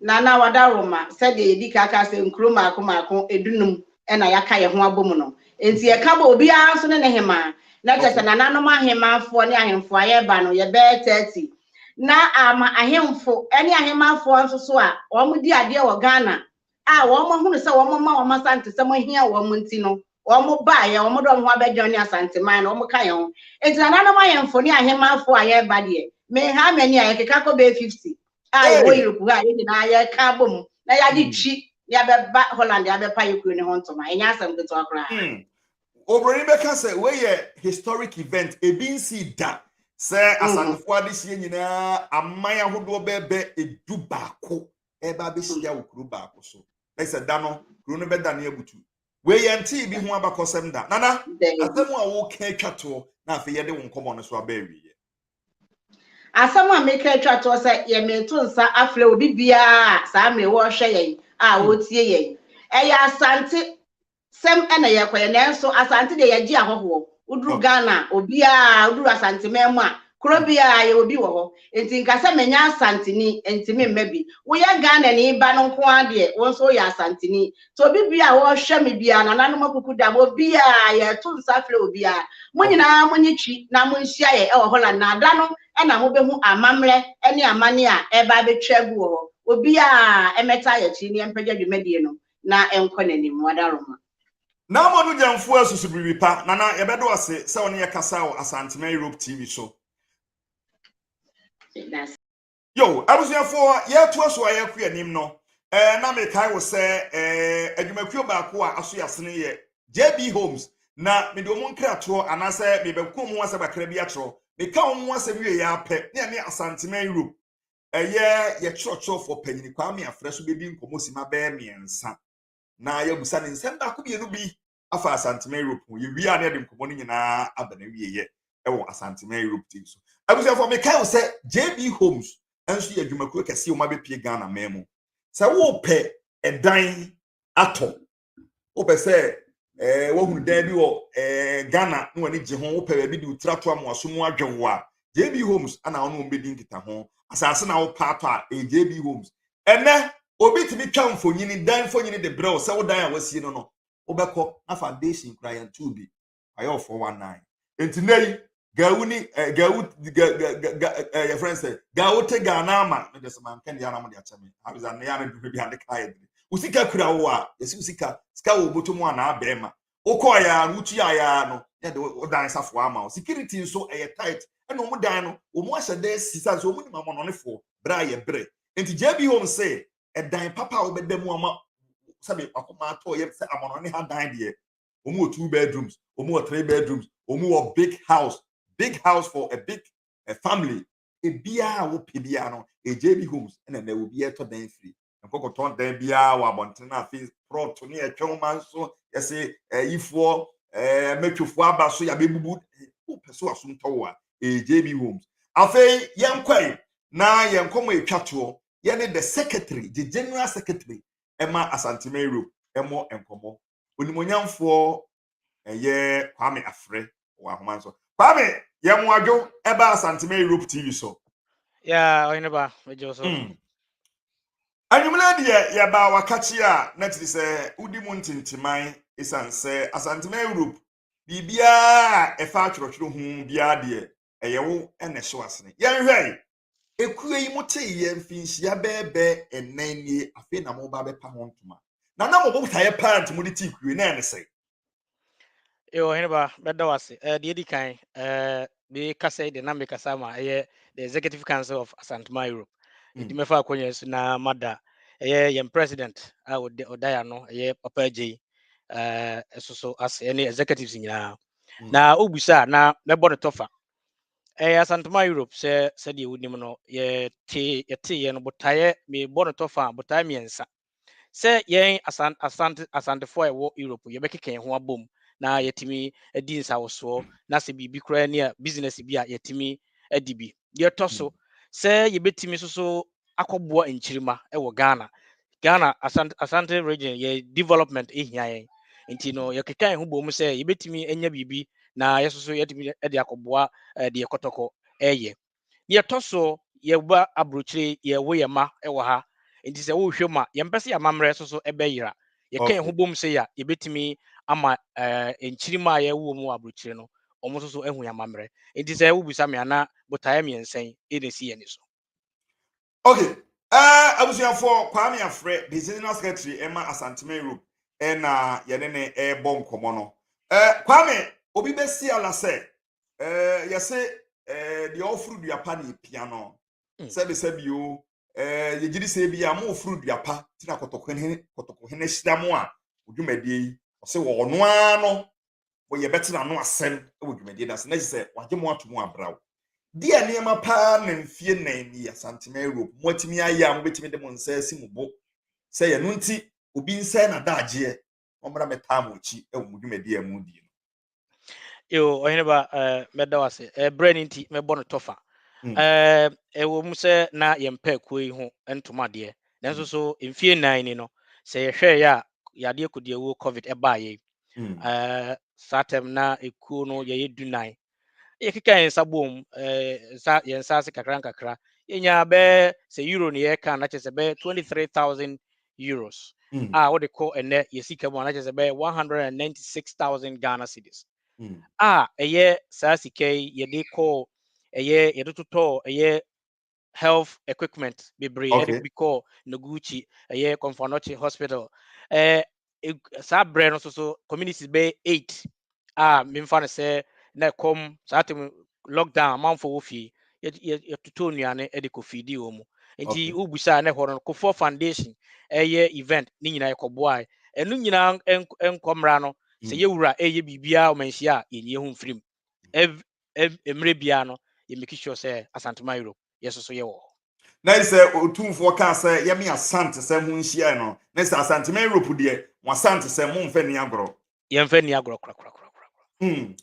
Nana Wadaroma, Sɛdeɛ yɛdi ka ka sɛ nkuro mmaako mmaako dunum ɛna yɛaka yɛn ho abɔ mu no, ɛnti yɛka bɔ obiara nso ne ne hemaa na kyerɛ sɛ nananom ahemmanfoɔ ne ahemfo a yɛreba no yɛbɛɛ 30 na ama ahemfo ne ahemmafoɔ nso so a wɔdi adeɛ wɔ Ghana a wɔahunu sɛ wɔma wɔn Asantesɛm ahia wɔn nti no, wɔbaeɛ, wɔde wɔn ho abɛdwene ne Asanteman no, wɔka yɛn ho. Enti nananom ahemfo ne ahemmafoɔ a yɛreba deɛ, menhaa m'ani a yɛkeka kɔ bɛyɛ 50 a yɛwɔ Hey! Europe ha a yɛn nyinaa yɛka abɔ mu na yɛagye Mm, twi na yɛabɛba Holland abɛpa yɛ kuro no ho ntoma. Ɛnyɛ asɛm ketewa koraa. mm. obroni bɛka sɛ wei yɛ historic event ebi nsi da sɛ mm. asakofoɔ adehyeɛ nyinaa aman ahodoɔ bɛɛbɛ edu baako ɛba abɛhyia mm. wɔ kuro baako so ɛsɛ da no kuro no bɛda ne abutu wei yɛn ntee bi ho abakɔsɛm da nana asɛm a wɔka atwa toɔ na afei yɛde wɔn nkɔmɔ no so aba awieɛ asɛm a meka atwa toɔ sɛ yɛmeto nsa afrɛ obi biara saa mmere wɔrehwɛ yɛn a wɔretie yɛn ɛyɛ asante sɛm na yɛkɔyɛ nanso Asante deɛ yɛgye ahɔhoɔ woduru Ghana a obiara woduru Asanteman mu a kuro biara yɛwɔ bi wɔ hɔ nti nka sɛ menya Asanteni nti memma bi woyɛ Ghanani ba no nko ara deɛ wo nso woyɛ Asanteni nti obi biara a ɔrehwɛ me biara nananom akuku dam obiara yɛto nsa frɛ obiara mo nyinaa monye twi na monhyia yɛ ɛwɔ Holland na ada no ɛna mobɛhu amammerɛ ɛne amane a ɛreba abɛtwa agu wɔ hɔ obiara ɛmɛta yɛkyi ne ɛmpɛgya dwumadie no na ɛnkɔ n'anim, Mwadaroma. Ná ama no gya mfuw a ɛsoso biribi pa, na na yɛbɛdɔ ase sɛ ɔne yɛn kasaa wɔ Asanteman Europe TV so. Meda ase. Yo, abusuafo, yɛretoa so a yɛrekɔ yɛn anim no, eh, na mekae wo sɛ eh, adwumakuo baako a aso yɛ asene yɛ JB Homes, na mede wɔn nkratorɔ anaasɛ mebɛko wɔn ho asɛm kakra bi akyerɛ wo. Meka wɔn ho asɛm wieeɛ ara pɛ, na ɛne Asanteman Europe ɛyɛ yɛ kyerɛkyerɛfoɔ panyin kwame afrɛ so bɛdi nkɔmmɔ sima bɛyɛ mmiɛnsa na yɛabusa ne nsɛm baako mmienu bi afa asantema europe ho yɛwie a na yɛde nkɔmmɔ no nyinaa aba na wieyɛ ɛwɔ asantema europe tv so abusuafoɔ mekae wo sɛ jb homes nso yɛ adwumakuo kɛseɛ wɔn abɛpie ghana man mu sɛ wopɛ ɛdan atɔ wopɛ sɛ ɛɛ wohunu dan bi wɔ ɛɛ ghana na wɔn ani gye ho wopɛ baabi de otira to amoaso mu adwen wo a jb homes ana wɔn wɔn bɛdi nkita ho asase na wopɛ atɔ a ɛyɛ jb homes ɛnɛ obi tumi twa mfonyini dan mfonyini de brɛ wo sɛ wo dan a wasie no no wobɛkɔ na foundation kura yɛn tu bi wayɛ wɔ four one nine nti nna yi gawu ni ɛ eh, gawu ga ga ga ɛ eh, yɛ fɛn sɛ gawu te gaa n'ama ne de sɛ maa nkɛn de anam de akyɛ mi abiza ne yɛn de bi ade kaa yɛ de osika kura wo a yɛsi osika sika wɔ bɔtɔ mu a na abɛɛ ma wokɔɔ yɛ a wotu yɛ ayɛ a no yɛ de wo dan safo ama wo security nso ɛyɛ tight ɛna wɔn dan no wɔn ahyɛ dɛ sisa nso wɔn nim amɔnɔnefoɔ bere a yɛ bere nti jb home sɛ ɛdan papa a wɔbɛda mu ama sɛbi wakoma atɔ yɛ sɛ amɔnɔne ha dan deɛ wɔn wɔ two bedrooms wɔn wɔ three bedrooms wɔn wɔ big house big house for a big a family ebiara a wopɛ biara no ɛgya bi homes ɛna na obi ɛtɔ dan firi nkɔkɔtɔn dan biara wɔ abɔnten no afei prɔt ne ɛtwɛn ma nso yɛse ɛyifoɔ ɛɛ mɛtwofoɔ aba so yɛabɛbubu wopɛ so asom tɔ wɔ a ɛgya bi homes afei yɛnkɔe na yɛn nkɔmɔ ɛtwa toɔ yɛne the secretary the general secretary ɛma asanteman road ɛmɔ nkɔmɔ Onimuonyamfoɔ ɛyɛ Kwame Afrɛ wɔ ahoma nso. Kwame yɛ mo adwo ɛba Asantema Europe TV so. Yeah, ɔyɛ ne ba, megye so. Mm. anwummerɛ deɛ yɛbaa wakakye a na kyerɛ sɛ wodi mu ntenteman ɛsiane sɛ asantema europe biribiaa ɛfa atwerɛtwerɛ ho biara deɛ ɛyɛ wo ɛna ɛhyɛ wasene yɛnhwɛe Ekuo yi mo tee yɛ mfinhyia bɛɛbɛɛ ɛnan nie afei na mo ba bɛpa ho ntoma. Na na mo botaeɛ paa nti mo de tii kuo yi na ɛne sɛn? Yo, ɔhene ba, mɛda wo ase. Eh, deɛ di kan, eh, me kasa yi de na me kasa ma ɛyɛ the Executive Council of Asantuma Europe. Mm. Nti mɛfa akonnwa yi so na mada ɛyɛ yɛn president a ɔda ɔda yɛ ano ɛyɛ Papa Agyeyi eh, ɛso so ase ɛne executives nyinaa. Mm. Na wobisa a na mɛbɔ no tɔfa. Ɛyɛ Asantuma Europe sɛ sɛdeɛ wonim no, yɛtee yɛteeɛ no botaeɛ, mebɔ no tɔ fã a, botaeɛ mmiɛnsa. Sɛ yɛn Asan, Asante, Asantefoɔ a yɛwɔ Europe yɛbɛkeka yɛn ho abom na yɛatumi adi nsawosoɔ na sɛ biribi koraa ni a, business bi a yɛatumi adi bi. Deɛ ɛtɔ so, sɛ yɛbɛtumi nso so akɔboa nkyirimma wɔ Ghana. Ghana Asante Asante region yɛ development hia yɛn. Nti no yɛkeka yɛn ho bom sɛ yɛbɛtumi anya biribi na yɛn nso so yɛatumi de akɔboa deɛ kɔtɔkɔ reyɛ. Deɛ ɛtɔ so, yɛba aburokyire yɛwo yɛn mma wɔ ha. Nti sɛ wohwɛ mu a, yɛmpɛ sɛ yɛn amammerɛ nso so bɛyera. Yɛka yɛn ho bom sɛ yɛ a yɛbɛtumi ama nkyirimma a yɛwowɔ mu wɔ aburokyire no, wɔn nso so ahu yɛn amammerɛ. Nti sɛ wobisa me a, na botaeɛ mmiɛnsa yi na ɛsi yɛn ani so. okay ɛɛ eh, abusuafoɔ kwame afrɛ the general secretary ɛma eh, asantuma europe ɛna eh, yɛne ne ɛɛbɔ nkɔmɔ no ɛɛ kwame obi bɛsi ala sɛ ɛɛ yɛse ɛɛ deɛ ɔforo dua pa ne epia no mm. sɛbisɛbi o ɛɛ yɛgyiri sɛ ebi a mo oforo dua pa ti na kɔtɔkɔhene kɔtɔkɔhene hyira mo a odwumadie yi ɔsɛ wɔ ɔno ara no mo yɛbɛte n'ano asɛm wɔ dwumadie no ase na gye sɛ wagye mo ato mu abraw. Di a nneɛma paa na mfie nnan ni Asantema Europe mo atumi ayɛ a mobɛtumi de mo nsa asi mo bo sɛ yɛno nti obi nsɛe n'adagyeɛ mommra mɛtaa mo akyi wɔ mo dwumadie a mo di no. Yo, ɔhene ba, eh, mɛda wo ase. Eh, berɛ no nti, mɛbɔ no tɔfa. Mm. Eh, ɛwɔ mu sɛ na yɛmpɛ akuo yi ho ntoma deɛ, nanso mm. so mfie nnan ni no, sɛ yɛhwɛeɛ a, yadeɛ kodiawuo COVID ɛbaa yei. saa tɛm na ekuo no yɛyɛ du nan yɛkeka yɛn nsa bom nsa yɛn nsa ase kakra nkakra yɛnya bɛɛ sɛ euro na yɛka na kyerɛ sɛ bɛɛ twenty three thousand euros hmm. a wɔde kɔ ɛnɛ yɛ sika mu a na kyerɛ sɛ bɛɛ one hundred and ninety six thousand ghana cedis hmm. a ɛyɛ saa sika yi yɛde kɔ ɛyɛ yɛde totɔ ɛyɛ health equipment bebree ɛde bi kɔɔ Noguchi ɛyɛ Kɔmfɔnɔkye hospital ɛɛ saa berɛ no soso communities bɛyɛ eight a memfa no sɛ na ɛkɔm saa tem lockdown amanfoɔ wɔ fie yɛtotɔ nnuane ɛde kɔ fiidi wɔ mu nti wobusa a na ɛhɔ no kofoɔ foundation ɛyɛ event ne nyinaa yɛkɔboae ɛno nyinaa nkɔmmra no sɛ yɛwura ɛyɛ biribiaa ɔmanhyia a yɛnyɛ ho mfirim ev ev mmerɛ biara no yɛ make sure sɛ Asantuma Europe yɛ soso yɛ wɔ hɔ. Na sɛ Otumfoɔ kaa sɛ yɛ me Asantesɛm ho nhyiaɛ no, na sɛ Asantuma Europe deɛ mo Asantesɛm mo nfa nni agorɔ. Yɛ nfa nni agorɔ korakorakorakorakoraa. Hmm.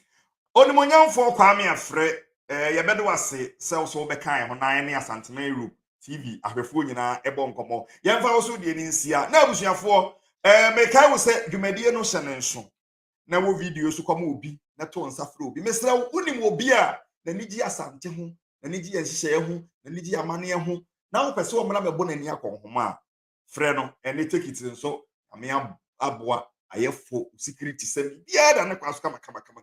Onimuonyamfoɔ Kwame Afrɛ, eh, yɛ bɛde wo ase sɛ wo so wo bɛka yɛ ho na yɛ ne Asantuma Europe TV ahwɛfoɔ nyinaa ɛbɔ nkɔmmɔ. Yɛ nfa wo so deɛ no nsia. Na abusuafoɔ, eh, mekae wo sɛ dwumadie no hyɛ ne nso. na wo video so kɔma obi na to nsa frɛ obi mesrɛ wo wonim wɔ bi a n'ani gye asante ho n'ani gye yɛn nhyehyɛeɛ ho n'ani gye amanneɛ ho na wopɛ sɛ ɔmmra mɛbɔ n'ani akɔ nhoma a frɛ no ɛne tekiti nso ame aboa ayɛfo security sɛ biribiara da ne kwan so kamakamakama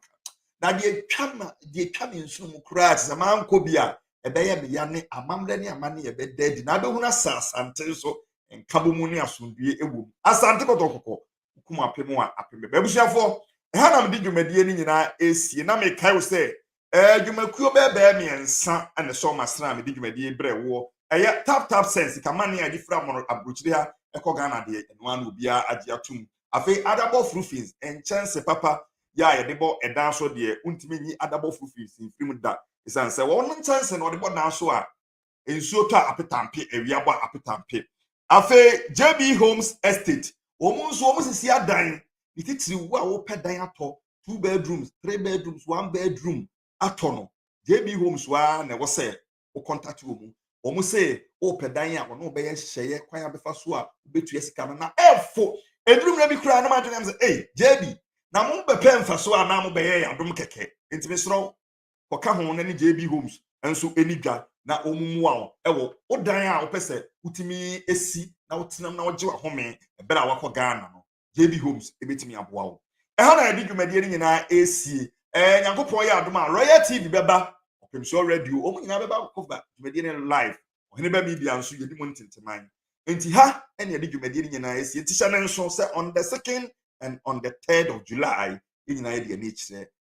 na deɛ twa ma deɛ twa me nsono mu koraa te sɛ mankɔ bi a ɛbɛyɛ meya ne amammerɛ ne amane ɛbɛda adi na abɛhunu asɛ asante nso nkabɔ mu ne asomdue ɛwɔ mu asante kɔtɔkɔkɔ kum apem a apem bɛba abusuafoɔ ɛha na mede dwumadie no nyinaa ɛresie na mekae wo sɛ ɛɛ dwumakuo bɛɛbɛɛ mmiɛnsa ɛna ɛsɔ ɔma sena a mede dwumadie brɛ woɔ ɛyɛ tap tap sense kamane a ɛde firi amono aburokyire ha ɛkɔ ghana deɛ ɛno ano obiara agye atom afei adabɔ frufins nkyɛnse papa yɛ a yɛde bɔ ɛdan so deɛ wontumi nyi adabɔ frufins mfiri mu da ɛsiane sɛ wɔn nkyɛnse na wɔde bɔ dan so a nsuo tɔ a apetampe awia bɔ apetampe afei jb homes estate wɔn nso wɔn sisi adan ne titiri wo a wopɛ dan atɔ two bedrooms three bedrooms one bedroom atɔ no jb homes waa na ɛwɔ sɛ wo contact wɔn wɔn se wopɛ dan a wɔn bɛyɛ nhyehyɛeɛ kwan abɛfa so a wobɛtua sika no na ɛfo eduru mmerɛ bi koraa na mo adwene sɛ ee jb na mo bɛpɛ mfaso a na mo bɛyɛ yɛ adom kɛkɛ ntumi soro wɔka ho no ne JB Homes nso ani dwa na wɔmmoa wo wɔ wo dan a wopɛ sɛ wotumi si na wotenam na wogye w'ahome bere a wakɔ Ghana no. JB Homes ebetumi aboa wo. Ɛha na yɛde dwumadie no nyinaa esie. Ɛɛ Nyankopɔn yɛ adom a Royal TV bɛba, Ɔpem Soɔ Radio, wɔn nyinaa bɛba akɔba dwumadie no live. Ɔhene ba media nso yɛdi mu ntenteman. Nti ha ɛna yɛde dwumadie no nyinaa esie. Nti hyɛ ne nso sɛ on the second and on the third of July yɛn nyinaa yɛde ani kyerɛ